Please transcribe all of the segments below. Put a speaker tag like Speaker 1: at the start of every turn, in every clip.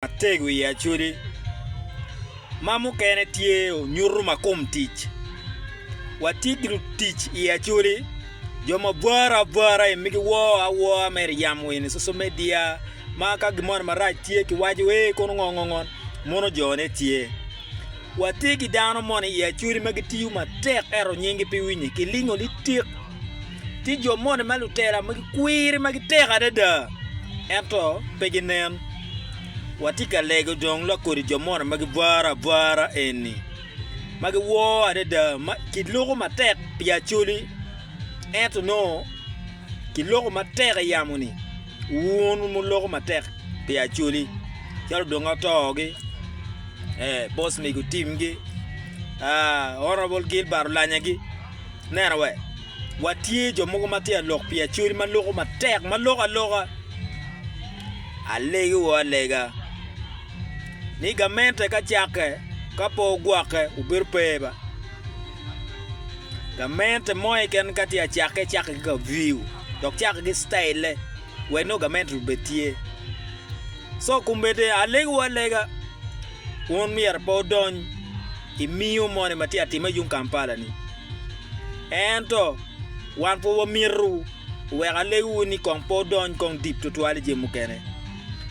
Speaker 1: Atego i Acholi ma mukene tye onyuto ma kom tic. Watye ki lutic i Acholi, jo ma bwaro abwara i migi wor awora mere i yamo eni coco media ma ka gin moni marac tye ki waco ee kono ngo ngo ngo mono jo ne tye. Watye ki dano moni i Acholi ma gitiyo matek ento nying gi pe winye, kilingo litik. Tye jo moni ma lutela ma gikwiri ma gitek adada, ento pe ginen. Watye ka lego dong lok kodi jo moni ma gibwara abwara eni, ma giwor adada, ma kiloko matek pi Acholi, ento nongo kiloko matek i yamoni. Wun wuloko matek pi Acholi calo dong atogi, ee, bocmego timgi, aa, Honourable Gilbert Olanyagi. Neno wek watye jo mogo ma tye ka lok pi acwel ma loko matek, ma loko aloka. Alego wa alega ni gamente ka cakke ka pe ogwokke obedo pe ba. Gamente mo keken ka tye ka cakke, cakke ki ka view dok cakke ki style-le. wek nongo gamente obed tye. So kombedde alego alega wun myero pe wudony i miyo moni ma tye atime yung Kampala-ni. Ento wan pud wamito wek alegowu-ni kong pe odony kong dip tutwal i jami mukene,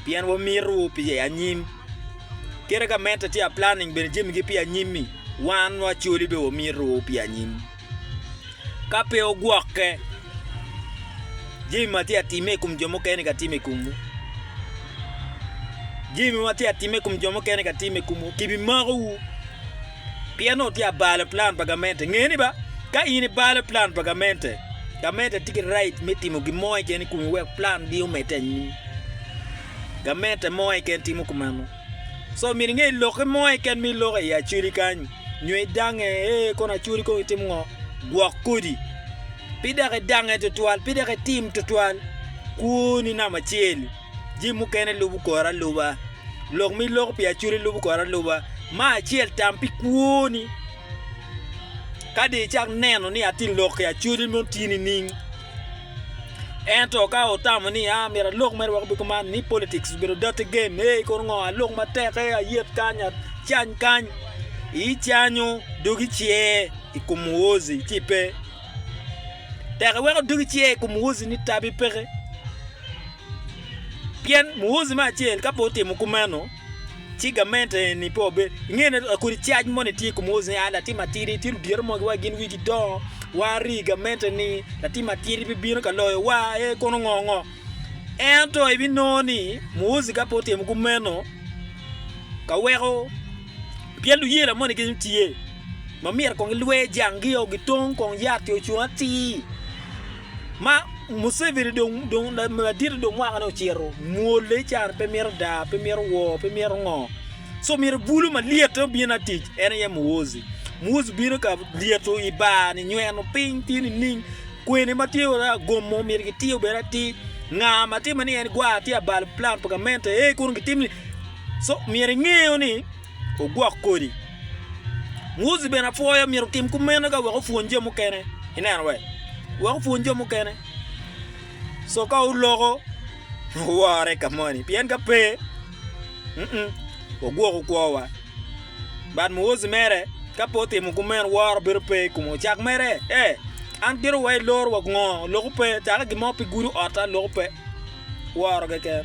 Speaker 1: pien wamitowu pi anyim. Kit ma gamente tye a planning bene jamigi pi anyim-mi, wan wacoli bene wamitowu pi anyim. Ka pe wugwokke, jami ma watye ka timme i kom jo mukene ka timme i komwu. Jami ma watye ka timme i kom jo mukene ka timme i komwu, kibimakowu pien onongo itye ka balo pulan pa gamente. Nge ni ba, ka in ibalo pulan pa gamente, gamente tye ki right me timo gin mo keken i komi wek pulan-gi omedde anyim. Gamente mo keken timo kumeno. So myero inge lokke mo keken ma iloko i acoli kany nyo idange ee kono acoli kong itimo ngo? Gwok kodi. Pi dok idange tutwal, pi dok itim tutwal, kur ni namba acel, jami mukene lubo kore aluba. Lok ma iloko pi acoli lubo kore aluba. Ma acel tam pi kwoni. Ka dong icak neno ni atin lok i acoli mono tye nining? Ento ka otamo ni, 'A, myero alok mere wek obedo kuman, ni politics obedo dirty game, hey, kono ngo, alok matek, hey, ayet kany, acany kany, icanyo dog ice i kom Muhoozi ci pe. Tek iweko dog ice i kom Muhoozi ni tabi peke. Pien Muhoozi me acel ka pe otimo kumeno, Ci gamente ni pe obed. Ingene kodi cac moni tye kom ozi a latin matidi tye ludito mogi wa gin wigi dongo wa ri gamente ni latin matidi bi bino ka loyo wa e kono ngo ngo. Ento ibi nongo ni muozi ka pe otimo kumeno ka weko pien luyela moni gin tye ma myero kong gilwer jang gi o gitong kong yat ti ocung atir. Ma Museveni dong dong laditi dong mwaka ne ocito, mwole ican pe mito daa, pe mito woo, pe mito ngo. So myero bulu ma lyet to bino atic en aye Muhoozi. Muhoozi bino ka lyeto i bar ni nyweno piny tye nining, kweni ma tye wala gomo myero ki ti obed ati, nga ma tye ma ni en gwar tye abalo plan pa gamente ee kono ki tim ni. So myero ingeyo ni. ogwok kodi. Muozi bene apwoyo omyero otim kumenega wek opwony jo mukene. Ineno we? Wek opwony jo mukene. So ka oloko, owore ka moni. Pien ka pe, mm, ogwoko kwowa. But Muozi mere, ka pe otimo kumeno, woro bedo pe i kome. Ocak mere, ee, an gino wa ilor wa ngo, loko pe, caka gin mo pe gudo otta, loko pe. Woro keken.